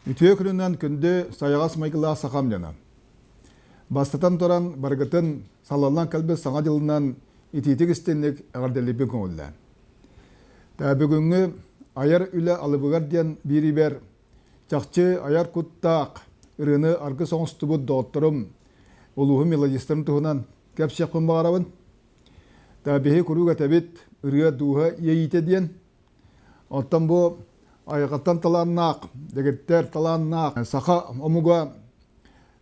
Үтүө күнүнэн күндү сайаҕас майгылаах сахам дьана. Бастатан туран баргытын салаллан кэлбит саҥа дьылынан итиитик истинник эҕэрдэлибин көҥүллээн. Та бүгүҥҥү айар үлэ алыбыгар диэн биирибэр Чахчы айар куттаах ырыаны аргыс оҥостубут доҕотторум, улууһум мелодистарын туһунан кэпсиэхпин баҕарабын. Биһиги куруук этэбит ырыа дууһа иэйиитэ диэн. Оттон бу айылҕаттан талааннаах, дэгиттэр талааннаах саха омуга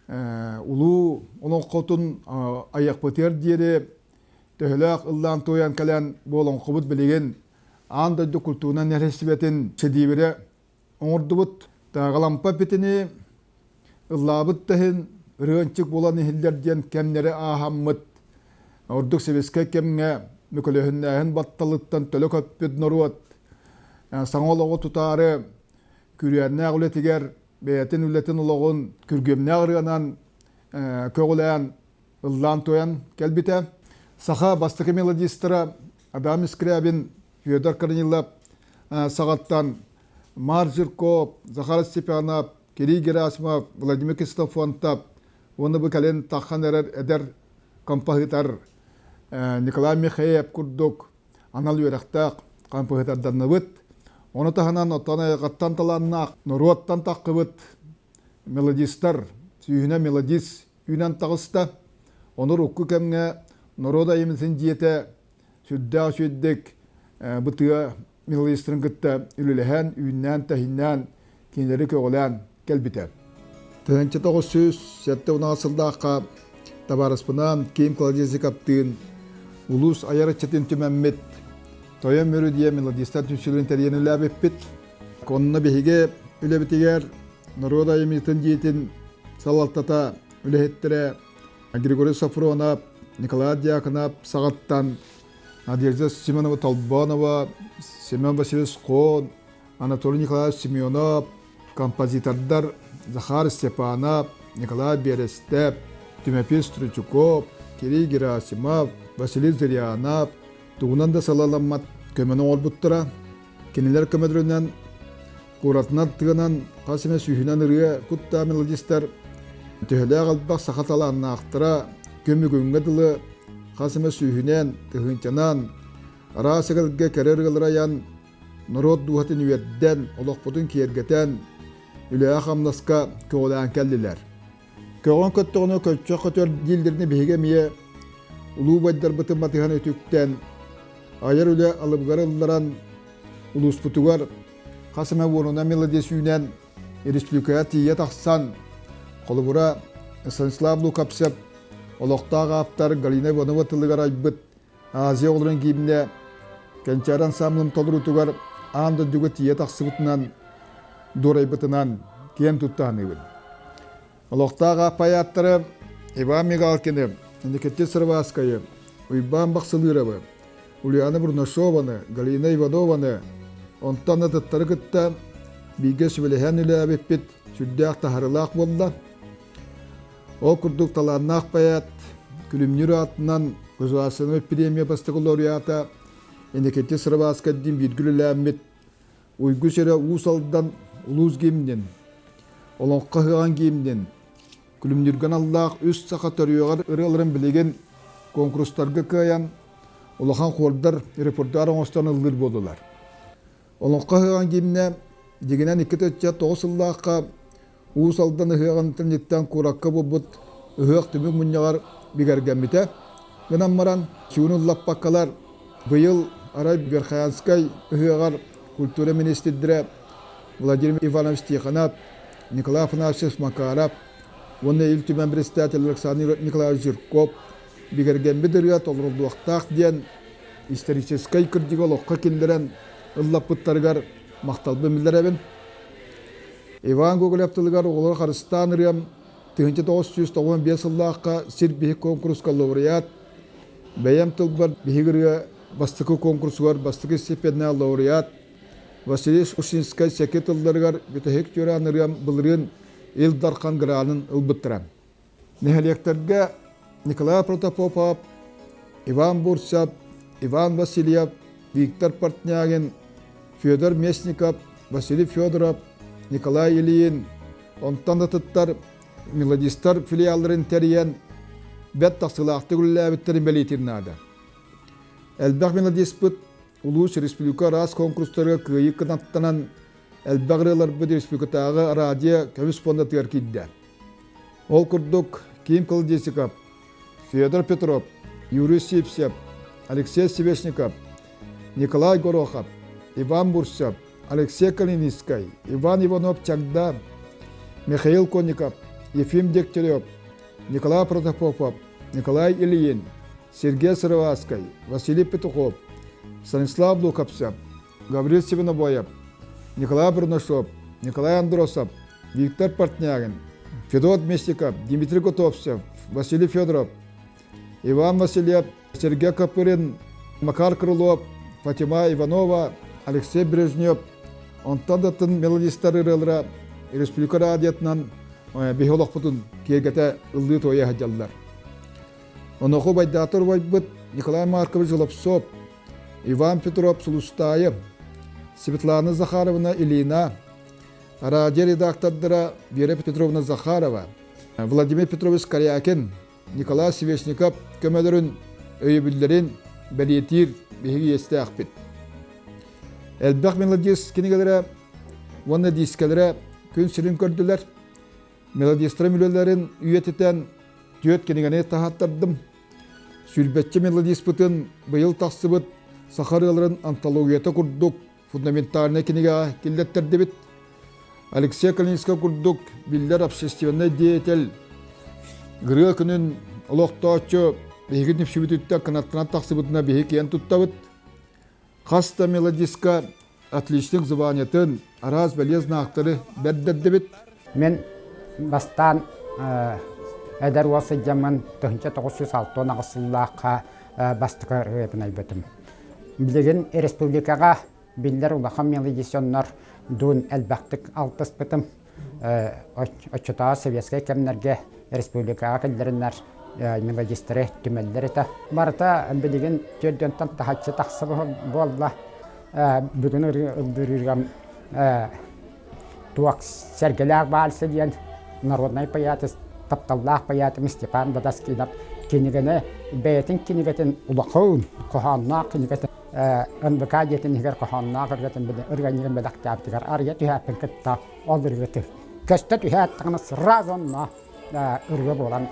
улуу олоҥхотун айыахпытыгар диэри төһөлөөх ыллаан-туойан кэлэн бу олоҥхобут билигин аан дойду культуурунан нэһилиэстибэтин сэдиибирэ оҥордубут тааҕалампа питини ыллаабыт да иһин ырыанчык булан иһиллэр диэн кэмнэри ааһаммыт ордук сэбиэскэй кэмҥэ мөкөлөһүннээһин батталыттан төлө көппүт норуот саҥа олоҕу тутаары күрүөннээх үлэтигэр бэйэтин үлэтин олоҕун күргүөмнээх ырыанан көҕүлээн ыллаан туойан кэлбитэ саха бастакы мелодистара Адам Искрябин, Федор Корнилов саҕаттан Мар Жирков, Захар Степанов, Кирилл Герасимов, Владимир Кистофонтов уонна бу кэлин таххан эрэр эдэр композитор Николай Михеев курдук анал үөрэхтээх композиторданныбыт. Ону таһынан оттон айылҕаттан талааннаах норуоттан таххыбыт мелодистар, сүүһүнэ мелодист үүнэн таҕыста. Онор укку кэмҥэ норуот айымнытын дьиэтэ сүрдээх үчүгэйдик бытыа милоистарын кытта үлэлэһэн, үүннээн-тэһиннээн, кинилэри көҕүлээн кэлбитэ. Тыһыынча тоҕус сүүс сэттэ унаҕас сылдаахха табаарыспынан Ким Кладезиковтыын улуус айар ыччатын түмэммит Тойон Мүрү диye мелодистар түнсүлүн тэрийэн үлээбиппит. Онно биһиги үлэбитигэр норуот айымньытын дьиэтин салалтата үлэһиттэрэ Григорий Софронов, Николай Дьяконов саҕаттан Надежда Семенова Толбонова, Семен Васильевич Кон, Анатолий Николаевич Семенов, композитордар Захар Степанов, Николай Берестеп, Тимофей Стручуков, Кирилл Герасимов, Василий Зырянов тугунан да салаламмат көмөнү оҥорбуттара. Кинилэр көмөлөрүнэн куратынан тыанан хас эмэ сүүһүнэн ырыа куттаа мелодистар төһөлөөх албах саха талааннаахтара көмүгүҥҥэ дылы хас эмэ сүүһүнэн тыһыынчанан араас эгэлгэ кэрэ ырыалары айан норуот дууһатын үөрдэн олохпутун киэргэтэн үлэҕэ-хамнаска көҕүлээн кэллилэр Көҕөн көттөҕүнэ көччөх көтөр дииллэринэ биһиги эмиэ улуу байдарбытын матыһан үтүктэн айар үлэ алыбыгар ылларан улууспутугар хас эмэ уонуна мелодиас үүнэн республикаҕа тиийэ тахсан холобура Станислав Лукавцев олохтоох ааптар Галина Иванова тылыгар айбыт Азия олорон кииннэ кэнчээр ансамблым толоруутугар аан дойдуга тиийэ тахсыбытынан дуорайбытынан киэн туттааныыбын. Олохтаах ааппайааттара Иван Мигалкины, Никитин Сарваскайы, Уйбаан Бахсылыыровы, Ульяна Бурнашованы, Галина Иванованы, онтон атыттары кытта бииргэ сүбэлэһэн үлээбиппит сүрдээх таһарылаах буолла. Ол курдук талааннаах поэт Күлүмнүүр аатынан Государственнай премия бастакы лауреата Иннокентий Сарваскаддин бииргэ үлэлээммит Уйгу сирэ Уус Алдан улуус гимнин, Олоҥхо ыһаҕан гимнин, Күлүмнүүргэн аллаах үс саха төрүөҕэр ырыаларын билигин конкурстарга кыайан, улахан хордар репертуар оҥостон ыллыыр буоллулар. Олоҥхо ыһыаҕын гимнэ дигинэн икки ыччат тоҕус сыллаахха Уус Алдан ыһыаҕынтан дьиктэн куоракка буолбут ыһыах түмүк мунньаҕар бигэргэммитэ. Гынан баран чуунун лаппаккалар быйыл арай Верхоянскай ыһыаҕар культура министрдэрэ Владимир Иванович Тихонов, Николай Афанасьевич Макаров уонна Ил Түмэн председатель Александр Николаевич Жирков бигэргэммит ырыа толоруллуохтаах диэн историческай кырдьыгы олоххо киллэрэн ыллаппыттарыгар махталбын биллэрэбин. Иван Гоголев тылыгар оҕолор харыстаан ырыам 1995 сыллаахха сир биһик конкурска лауреат, бэйэм тылбар биһиги ырыа бастакы конкурсугар бастакы степеннээх лауреат Василий Ушинскай секе тылларыгар бүтэһик тюраан ырыам былырыын Ил Дархан гранын ылбыттара. Нэһилиэктэргэ Николай Протопопов, Иван Бурцев, Иван Васильев, Виктор Портнягин, Федор Местников, Василий Федоров, Николай Ильин, онтон да тыттар мелодистар филиалларын тэрийэн бэрт тахсыылаахтык үлэлээбиттэрин бэлиэтиир наада. Элбэх мелодиспыт улуус республика араас конкурстарга кыайыы кынаттанан элбэх ырыаларбыт республикатааҕы радио көмүс пуондатыгар киирдэ. Ол курдук Ким Колодесиков, Федор Петров, Юрий Сипсев, Алексей Севешников, Николай Горохов, Иван Бурсев, Алексей Калининскай, Иван Иванов-Чагда, Михаил Конников, Ефим Дегтярев, Николай Протопопов, Николай Ильин, Сергей Сыроваскай, Василий Петухов, Станислав Лукавцев, Гаврил Севинобоев, Николай Бурнашов, Николай Андросов, Виктор Портнягин, Федот Местников, Дмитрий Готовцев, Василий Федоров, Иван Васильев, Сергей Копырин, Макар Крылов, Фатима Иванова, Алексей Брежнев, онтон датын мелодистар ырылра республика радиотынан биһолохпутун киэргэтэ ыллыы туойа сылдьаллар. Оноху байдаатыр убайбыт Николай Маркович Золопцов, Иван Петров Сулустаев, Светлана Захаровна Ильина, радио редактордара Вера Петровна Захарова, Владимир Петрович Корякин, Николай Севешников көмөлөрүн өйөбүллэрин бэлиэтиир биһиги иэстээхпит. Элбэх мелодист кинигэлэрэ уонна диискэлэрэ күн сирин көрдүлэр. мелодистрам үлэлэрин үйэтитэн түөрт кинигэни таһаттардым. Сүлбэччи мелодиспытын быйыл тахсыбыт саха ырыаларын антологията курдук фундаментальнай кинигэҕэ киллэртэрдибит. Алексей Калининскай курдук биллэр общественнай деятель Гырыа күнүн олохтооччу биһиги нүпсүбүтүттэн кынаттанан тахсыбытына биһи киэн туттабыт. Хас да мелодиска отличник званиетын, араас бэлиэзнактары бэрдэрдибит. Мен бастаан эдэр уол сылдьаммын тыһынча тоҕус жүз алты он аҕыс сыллаахха бастакы ырыабын айбытым. Билигин республикаҕа биллэр улахан мелодисионнор дуун элбэхтик алтыспытым. Оччотооҕу советскай кэмнэргэ республикаҕа киллэриннэр магистры түмэллэр этэ. Барыта билигин түөртүөнтэн таһыччы тахсыбыт буолла. Бүгүн ырдырыырга туох сэргэлээх баарсы диэн народнай поэтесс, тапталлаах поэтым Степан Бодаскинов кинигэни бэйэтин кинигэтин улахан, хоһоонноох кинигэтин НБК дьиэтин иһигэр хоһоонноох ырыатын ырыанньыгын бэлэхтээбитигэр арыйа түһээппин кытта ол ырыатын көстө түһээтэҕинэ сразу онно ырыа буолан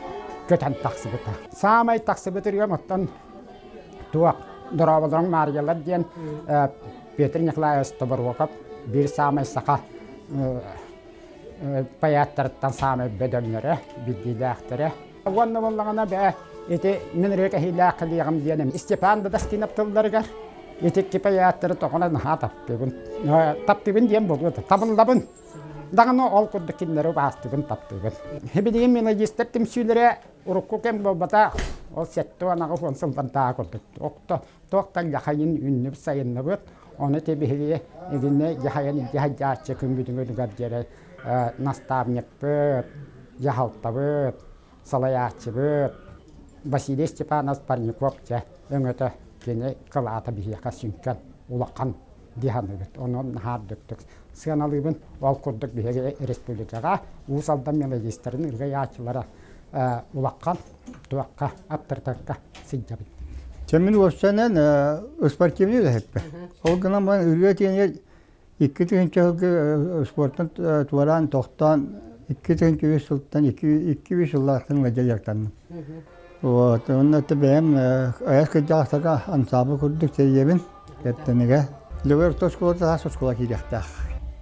көтөн тахсыбыта. Саамай тахсыбыт ырыам оттон туох Дорооболоруҥ Маарыйалар диэн Петр Николаевич Тоборуокап биир саамай саха поэттарыттан саамай бөдөҥнөрө, биллиилээхтэрэ. Уонна буоллаҕына бээ, ити мин ырыа кэһиилээх кэлиэҕим диэним. Степан Дadaskинов тылларыгар ити кипэй ааттары тоҕона наһаа таптыыбын. Таптыыбын диэн буолуо да, табыллабын. Даҕаны ол курдук кинилэри убаастыыбын, таптыыбын. Билигин мелодистер түмсүүлэрэ урукку кэм буолбата ол сэттэ уон аҕыс уон сыллардааҕы курдук туох да туох да ляхайын үннүбүт сайынныбыт Ону тэбиһигиэ игинэ дьаһайан дьаһайдьааччы күммүтүҥүтүгэр диэри наставникпыт, дьаһалтабыт, салайааччыбыт Василий Степанов Парников дьэ өҥөтө кини кылаата биһиэхэ сүҥкэн улахан дыһаныгыт. Онон наһаардыктык сыаналыыбын. Ол курдук биһиги республикаҕа Уус Алдан мелодистарын ырыайааччылара улахан туохха аттартарга сылдьабын. Чэ мин уопсанан спортивный үлэһиппин. Ол гынан баран үрүө тиэнигэр икки тыһыынча сылга спортан туораан тохтоон икки тыһыынча үс сылтан икки үс сыллаахтан дьайыктанным. Вот онно бэйэм айас кырдьаҕастарга ансаабы курдук тэрийэбин. Эртэнигэ. Любовь оскуола талаас оскуола киириэхтээх.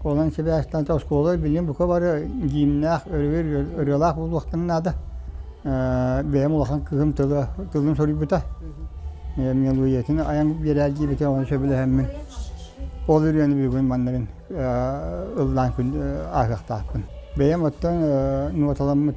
Онон сибээстэн оскуола билим бука бары гиимнээх ырыалаах буолуохтан наада. Бэйэм улахан кыһым тылын суруйбута. Мелуетин аян биэрээр диэбитэ оны сөбүлэһэммин. Ол үрүөнү бүгүн маннарын ыллаан ааһыахтаахпын. Бэйэм оттон ноталаммыт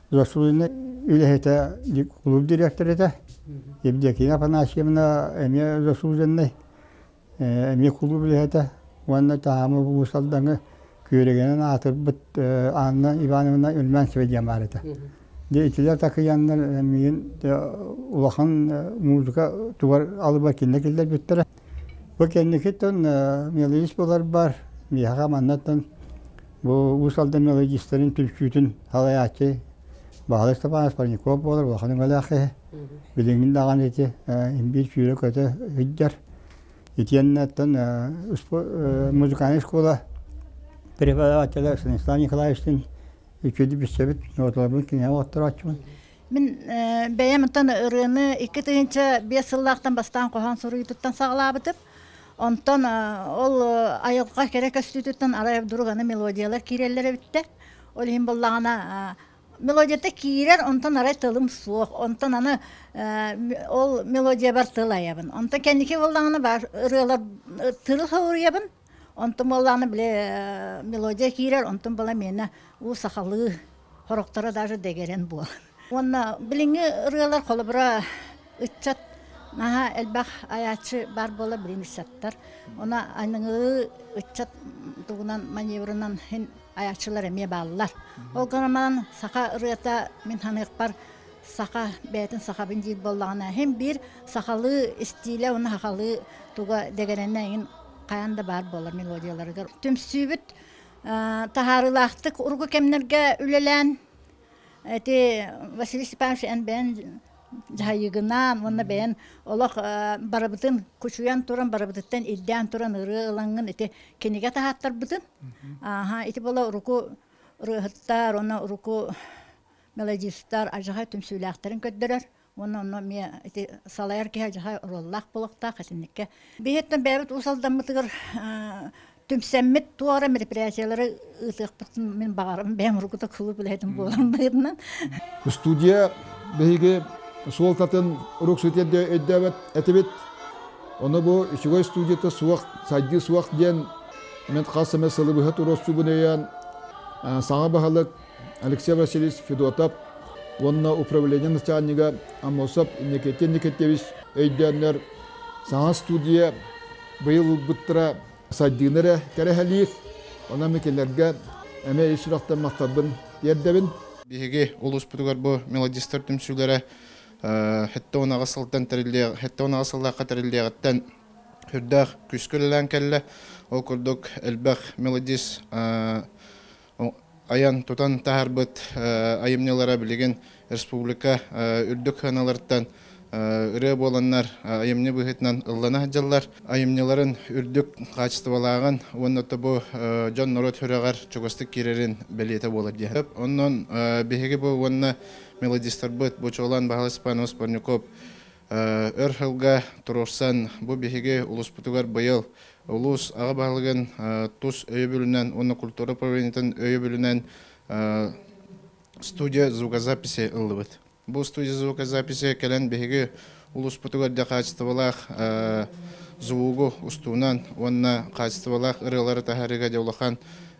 Государственнай үлэһитэ, клуб директора этэ. Евдокия Афанасьевна эмиэ заслуженнай, эмиэ клуб үлэһитэ уонна таһаама улуус Алдаҥы күөрэгэнэн аатырбыт Анна Ивановна Ульмянцева диэн баар этэ. Дьэ итилэр такыйаннар миин улахан музыка тугар алыбар кинилэр киллэрбиттэрэ. Бу кэнникиттэн мелодист буоларбар миэхэ маннаттан бу Уус Алдан мелодистарын түмсүүтүн салайааччы Баһылай Степанов Парников буолар улахан өҥөлөөх киһи. Билигин даҕаны ити биир сүүрэ-көтө сылдьар. Итиэннэттэн музыкальнай школа преподавателя Станислав Николаевичтыын үчүгэй билсэбит, ноотолорбун кинигэ отторооччубун. Мин бэйэм оттон ырыаны икки тыһыынча биэс сыллаахтан бастаан хоһоон суруйуутуттан саҕалаабытым. Онтон ол айылҕа кэрэ көстүүтүттэн арай дурганы мелодиялар киирэллэр эбиттэр. Ол иһин буоллаҕына мелодията киирэр, онтон арай тылым суох. Онтон аны ол мелодиябар тыл айабын. Онтон кэнники буоллаҕына баар ырыалар тылы соруйабын. Онтум буоллаҕына били мелодия киирэр, онтум буола миэнэ уу сахалыы, хорокторо даже дэгэрэн буолан. Уонна билиҥҥи ырыалар холобура ыччат наһаа элбэх айааччы баар буола билин ыччаттар. Ону аныгы ыччат тугунан маневрынан иһин айааччылар эмиэ бааллар. Ол гынан баран саха ырыата мин саныахпар саха бэйэтин сахабын диир буоллаҕына иһин биир сахалыы истиилэ уонна сахалыы туга дэгэрэнэйин хайаан да баар буолар мелодияларыгар түмсүүбүт таһаарыылаахтык урукку кэмнэргэ үлэлээн ити Василий Степанович эн бэйэн дьаһайыгынаан уонна бэйэн олох барыбытын кучуйан туран барыбытыттан ирдээн туран ырыа ылаҥҥын ити кинигэ таһааттарбытын ити бола урукку ырыаһыттар уонна урукку мелодистар адьаһа түмсүүлээхтэрин көрдөрөр уонна онно эмиэ ити салайар киһи адьаһа роллаах буолуохтаах итинникке биһиттэн бэйэбит уус алдаммытыгар түмсэммит туора мероприятиялары ыытыахпытын мин баҕарам бэйэм ругута кылып үлэһитим буолан быһытынан студия биһиги суолтатын рук сүтэрде өйдөөбөт этибит ону бу үчүгэй студията суох сайдыы суох диэн мен хас эмэ сылыбыһа туроссубун өйөөн саҥа баһылык Алексей Васильевич Федотов уонна управление начальнига Амосов Никитин Никитевич өйдөөннөр саҥа студия быйыл ылбыттара сайдыыны эрэ кэрэһэлиир. Онон кинилэргэ эмиэ ис сүрэхтэммэхтэрбин тиэрдэбин. Биһиги улууспутугар бу мелодистар түмсүүлэрэ хэттэ унаҕа сылтан тэриллиэх, хэттэ унаҕа сыллаахха тэриллиэҕиттэн үрдээх күүскэ үлэлээн кэллэ. Ол курдук элбэх мелодист айан-тутан таһаарбыт айымньылара билигин республика үрдүк сыаналарыттан ырыа буоланнар айымньы быһыытынан ыллана сылдьаллар. Айымньыларын үрдүк хаачыстыбалааҕын уонна бу дьон-норуот сүрэҕэр чугастык киирэрин бэлиэтэ буолар диэһэ. Онон биһиги бу уонна мелодистарбыт, бу чуолаан Баһылай Степан Успорняков Өр сылга туруорсан, бу биһиги улууспутугар быйыл улуус аҕа баһылыгын тус өйөбүлүнэн уонна культура управлениетын өйөбүлүнэн студия звукозаписи ыллыбыт. Бу студия звукозаписи кэлэн биһиги улууспутугар дьэ хаачыстыбалаах звугу устуунан уонна хаачыстыбалаах ырыалары таһаарыыга дьэ улахан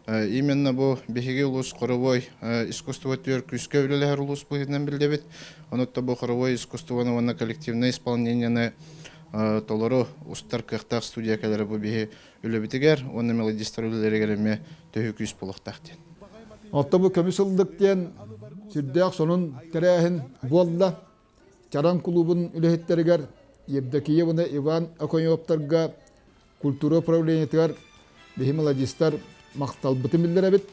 Именно бу биһиги улуус хоровой искусство түөр күүскэ үлэлэһэр улуус быһыытынан биллэбит. Онутта бу хоровой искусствоны уонна коллективнай исполнениены толору устар кыахтаах студия кэлэрэ бу биһи үлэбитигэр уонна мелодистар үлэлэригэр эмиэ төһө күүс буолуохтаах диэн. Отто бу көмүс ылдык диэн сүрдээх сонун тэрээһин буолла. Чараҥ кулуубун үлэһиттэригэр Евдокиевна Иван Оконевтарга культура управлениетыгар биһи мелодистар махталбытын биллэрэбит.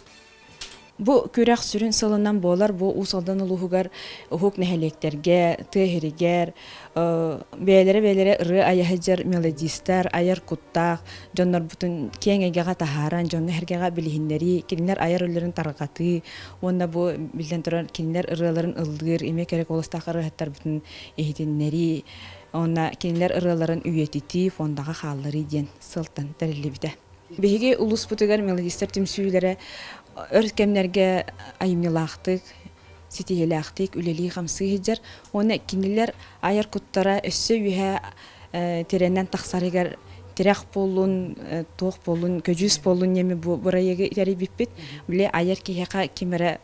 Бу күрэх сүрүн сылынан буолар бу Уус Алдан улууһугар уһук нэһилиэктэргэ, тыа иһигэр бэйэлэрэ-бэйэлэрэ ырыа айаһыдьар мелодистар, айар куттаах дьоннорбутун киэҥ эйгэҕэ таһааран, дьону эһэргэҕэ билиһиннэрии, кинилэр айар үлэлэрин тарҕатыы, Уонна бу, биллэн турар, кинилэр ырыаларын ыллыыр, эмиэ кэрэ куоластаах ырыаһыттарбытын иһитиннэрии, уонна кинилэр ырыаларын үйэтитии, фондаҕа хаалларыы диэн сылтан тэриллибитэ. Биһиги улууспутугар мелодистар түмсүүлэрэ өр кэмнэргэ айымньылаахтык, ситиһиилээхтик үлэлии-хамсыы сылдьар. Уонна кинилэр айар куттара өссө үөһэ тирэнэн тахсарыгар тирэх буоллун, туох буоллун, көдьүүс буоллун еми бу бырайыгы тэрийбиппит. Били айар киһиэхэ ким эрэ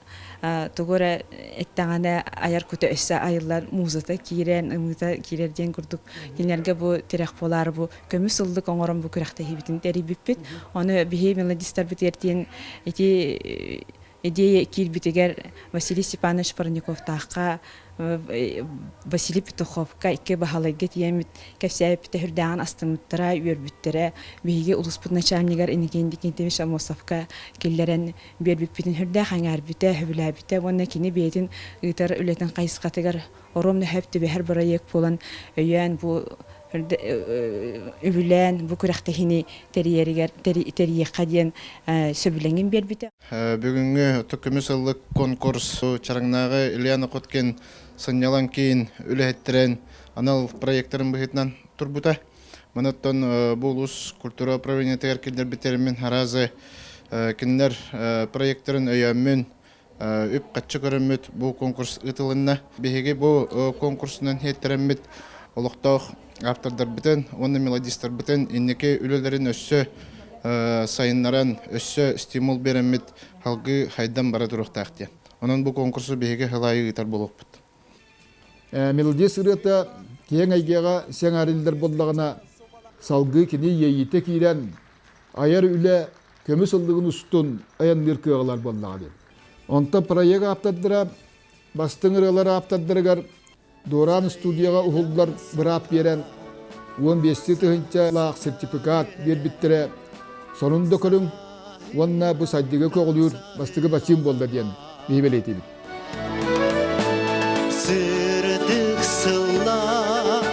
тугу эрэ эттэҕинэ айар кута өссө айыллан музыка киирэн, ымыыта киирэр диэн курдук кинилэргэ бу тирэх буолаары бу көмүс ыллык оҥорон бу күрэхтэһиибитин тэрийбиппит. Ону биһи мелодистарбыт эртиэн ити идея киирбитигэр Василий Степанович Парниковтаахха Василий Петуховка икки Баһылайга тиийэммит кэпсээбиппитэ үрдээҕин астыммыттара үөрбүттэрэ биһиги улууспут начальнигар Иннокентий Никитич Амосовка киллэрэн биэрбиппитин үрдээх эҥээрбитэ сөбүлээбитэ уонна кини бэйэтин ыытар үлэтин хайысхатыгар оруом нөһөп түбэһэр бырайыак буолан өйөөн бу үбүлээн бу күрэхтэһиини тэрийэригэр тэрийиэххэ диэн сөбүлэҥин биэрбитэ бүгүҥҥү оту көмүс ыллык конкурс Чараҥнааҕы Ильяна Коткин сынньалаҥ киин үлэһиттэрин анал проектарын быһыытынан турбута. Манаттан бу улус культура управлениетыгар киллэрбит тэримин араазы кинилэр проектарын өйөөммүн үп-харчы көрөммүт бу конкурс ыытылынна. Биһиги бу конкурсунан хиттэрэммит олохтоох ааптардарбытын уонна мелодистарбытын инники үлэлэрин өссө сайыннаран, өссө стимул биэрэммит салгыы хайдан бара туруохтаах диэн. Онон бу конкурсу биһиги халаайы ыытар буолуохпут. Мелодист ырыата киэҥ эйгэҕэ сиэҥээриллэр буоллаҕына, салгыы кини иэйиитэ киирэн, айар үлэ көмүс ыллыгын устун айанныыр кыаҕылар буоллаҕа диэн. Онто проект ааптардара бастыҥ ырыалар ааптардарыгар Дуораан студияҕа уһуллар быраап биэрэн уон биэсти тыһыынчалаах сертификат биэрбиттэрэ сонун да көрүҥ уонна бу сайдыга көҕүлүүр бастыгы бачыым буолла диэн биһи бэлиэтиибит. Сырдык сыллар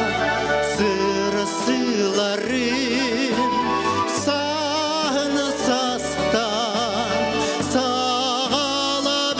сырсыыларын саана састан саалабын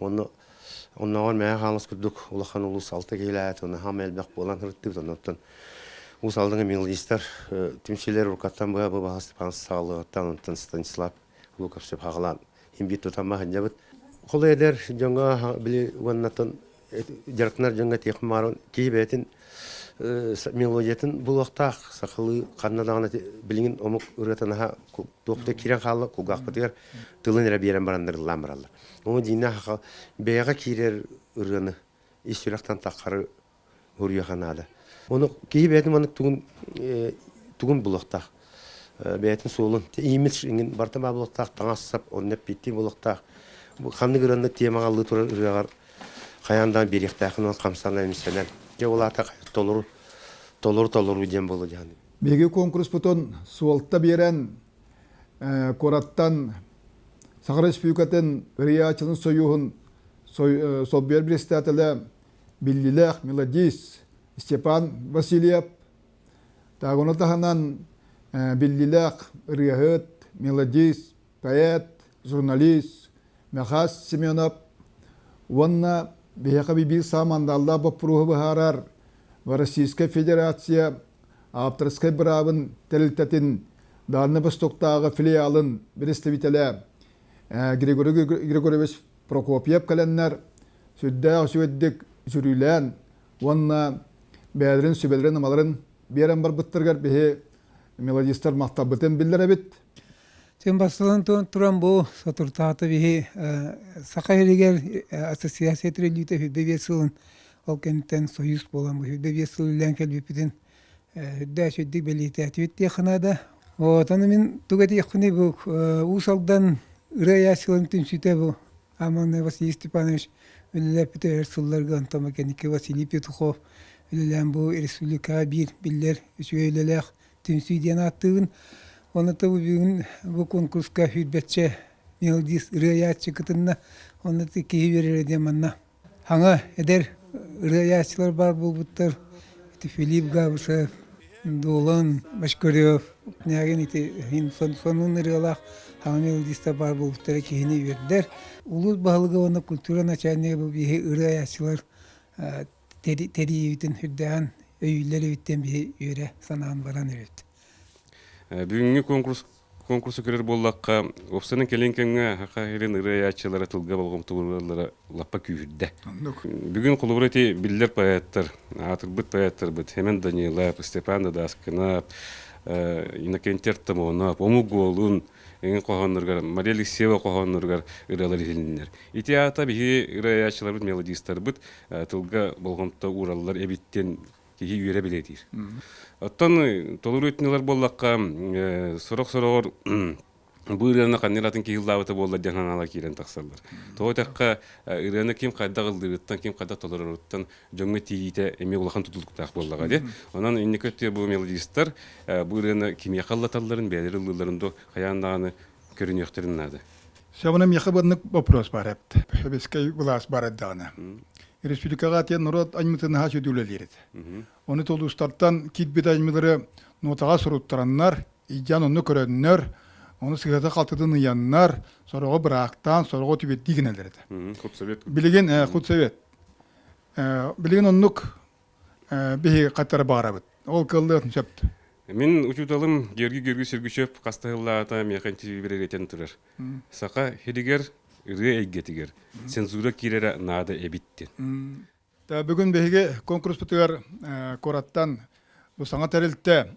Уонна оннооҕор Мэҥэ Хаҥалас курдук улахан улуус алта киһилээт, наһаа элбэх буолан сырыттыбыт, оннуттан Уус Алдаҥа мелодистар түмсүүлэр уруккаттан быһа бу баһастыпаан саҕалыаҕыттан онтон Станислав Луковцев хаҕалаан имбит тутан маһынньабыт. Холо эдэр дьоҥҥо били уоннатан дьарыктанар дьоҥҥо тиэх мааран киһи бэйэтин мелодиятын булуохтаах сахалыы ханна даҕаны билигин омук ырыата наһаа туохта киирэн хаалла кулгаахпытыгар тылын эрэ биэрэн бараннар ыллаан бараллар. Ону диинэ хаха бэйэҕэ киирэр ырыаны ис сүрэхтэн таххары хоруйаха наада. Оны киһи бэйэтин маннык тугун тугун булуохтаах бэйэтин суолун имидж иҥин барта баа булуохтаах таҥассап онна пикки булуохтаах ханнык ырыаны тиэмаҕа аллыы турар ырыаҕар хайаан да биэриэхтээхинэн хамсана эмсэнэн дьэ ол аата толору толору толору диэн буолу диһан биһиги конкурспутун суолта биэрэн куораттан Саха Республикатын РИА-чын союһун солбуйар председателэ биллилээх мелодист Степан Васильев, тагуна таһынан биллилээх ырыаһыт, мелодист, поэт, журналист Мехас Семенов уонна биһиэхэ биир саамандаллаах боппуруоһу быһаарар Российскай Федерация авторскай быраабын тэрилтэтин Дальнай Востоктааҕы филиалын представителэ Григорий Григорьевич Прокопьев кэлэннэр сүрдээх үчүгэйдик жүрүүлээн уонна бэйэлэрин сүбэлэрин-амаларын биэрэн барбыттарыгар биһи мелодистар махталбытын биллэр эбит. Тин бастатан туран бу сотрутаата биһи Саха иригэр ассоциация трилүүтэ хүрдэ сылын Ол кэнниттэн союз буолан быһыйда биэс сыл үллээн кэлбиппитин үрдээч үрдүк бэлиэтээтибит диэххэ наада. Оотону мин туга диэхпиний бу Уус Алдан ырыа айааччыларын түмсүүтэ бу Аманный Василий Степанович үлэлээппитэ өр сылларга Антон Макенников, Василий Петухов үлэлээн бу республикаҕа биир биллэр үчүгэй үлэлээх түмсүү диэн ааттыыбын. Онута бу бүгүн бу конкурска үрбэччэ мелодист ырыа айааччы кытынна. Онно киһи биэрэрэ диэн манна Һаҥа эдэр ырыайааччылар баар буолбуттар. Ити Филипп Габышев, Долан Бочкарев, Княгин ити сонун ырыалаах хаҥа мелодистар баар буолбуттара киһини үөрдэр. Улуус баһылыга уонна культура начальнига бу биһи ырыайааччылар тэрийиибитин үрдээн өйүүллэр эбиттэн биһи үөрэ санаан баран өрүт. Бүгүҥҥү конкурс конкурса көрөр буоллахха, уопсанан кэлин кэмҥэ Хаха Хирин ырыайааччылара тылга болҕомтолууллара лаппа күүһүрдэ. Бүгүн холобура ити биллэр поэттар, аатырбыт поэттарбыт Хемен Данилап, Степан Дадашкинап, Иннокентий Артамонов, Омук Голун, эҥин хоһоонноругар, Мария Алексеева хоһоонноругар ырыалар иһилиннэр. Ити аата биһи ырыаяччыларбыт, мелодистарбыт тылга болҕомто уураллар эбиттин Киһи үөрэ-билэ диир. Оттон толору өтүнүлэр буоллахха, сорох-сорохор бу ырыаны ханна атын киһи ыллаабыта буоллар диэн ханаала киирэн тахсаллар. Тоҕо дитэххэ, ырыаны ким хайдах ыллыырыттан, ким хайдах толороруттан дьоҥҥо тириитэ эмиэ улахан тутулуктаах буоллаҕа диэн. Онон инники өттө бу мелодистар бу ырыаны кимиэхэ ыллаталларын, бэйэлэр ыллыылларын дуо хайаан даҕаны көрүнүөхтэрин наада. Сөбүнэ миэхэ быаннык вопрос бар эпт. Сэбискэй былаас бар эрдэҕинэ. Республикаҕа тиэн норуот аймытынаһа сүдүлэлиирит. Оны толустартан китбит аймылары нотаға суруттараннар, ijjan онну көрөннөр, оны сыһыта халтытын ыйаннар, сороҕо быраактаан, сороҕо түбеттиигинэлерите. Хут совет. Билигин хут совет. Билигин оннук биһиги хаттара баҕарабыт. Ол кыллыатын сөп. Мин учууталым Георгий Георгиевич Сергучев хаста сыллаата миэхэ интервьюберигэтэн турар. Саха хиригэр ырыа эйгэтигэр цензура киирэрэ наада эбиттин. Бүгүн биһиги конкурспутугар кураттан бу саҥа тэрилтэ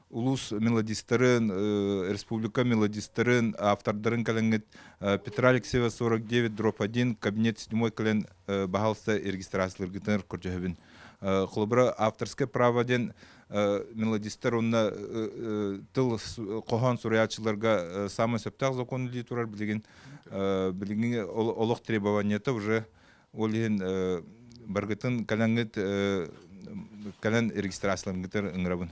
улуус мелодистарын, республика мелодистарын автордарын кэлэҥҥит Петра Алексеева 49 дроп 1 кабинет седьмой кэлэн баһалста регистрацияларгытын көрдөһөбүн. Холобура авторское право диэн мелодистар уонна тыл хоһоон суруйааччыларга самый сөптөөх закон дии турар билигин билиҥҥи олох требованиета уже ол иһин баргытын кэлэҥҥит кэлэн регистрацияларгытын ыҥырабын.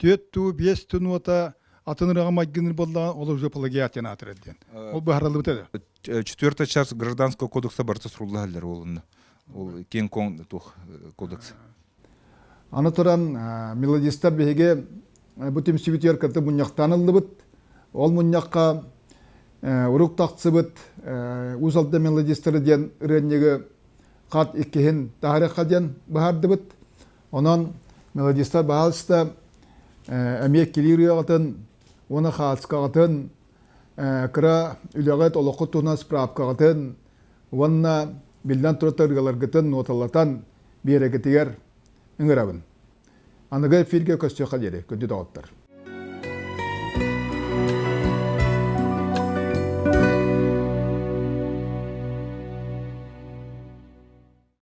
Түөт туу биэс тун уота атын ыраҕа майгыныр боллаҕа ол уже плагиатина атырар диэн. Ол быһаралыбыт это. Четвертая часть гражданского кодекса барыта суруллахалар олунна. Ол кең коң туох кодекс. Аны туран мелодистар биһиги бу түмсүбүтүгэр кытта мунньахтаан ыллыбыт. Ол мунньахха урук тахсыбыт Усалда мелодистары диэн ырыанньыгы хат иккиһин таһарыхха диэн быһардыбыт. Онон мелодистар баалыста эмиэ килиир үйэҕитин уона хаацкаҕытын кыра үлэҕит олоххут туһунан справкаҕытын уонна биллэн турар ырыаларгытын ноталатан биэрэгитигэр ыҥырабын. Аныгы эфиргэ көссүөххэ диэри күндү доҕоттор.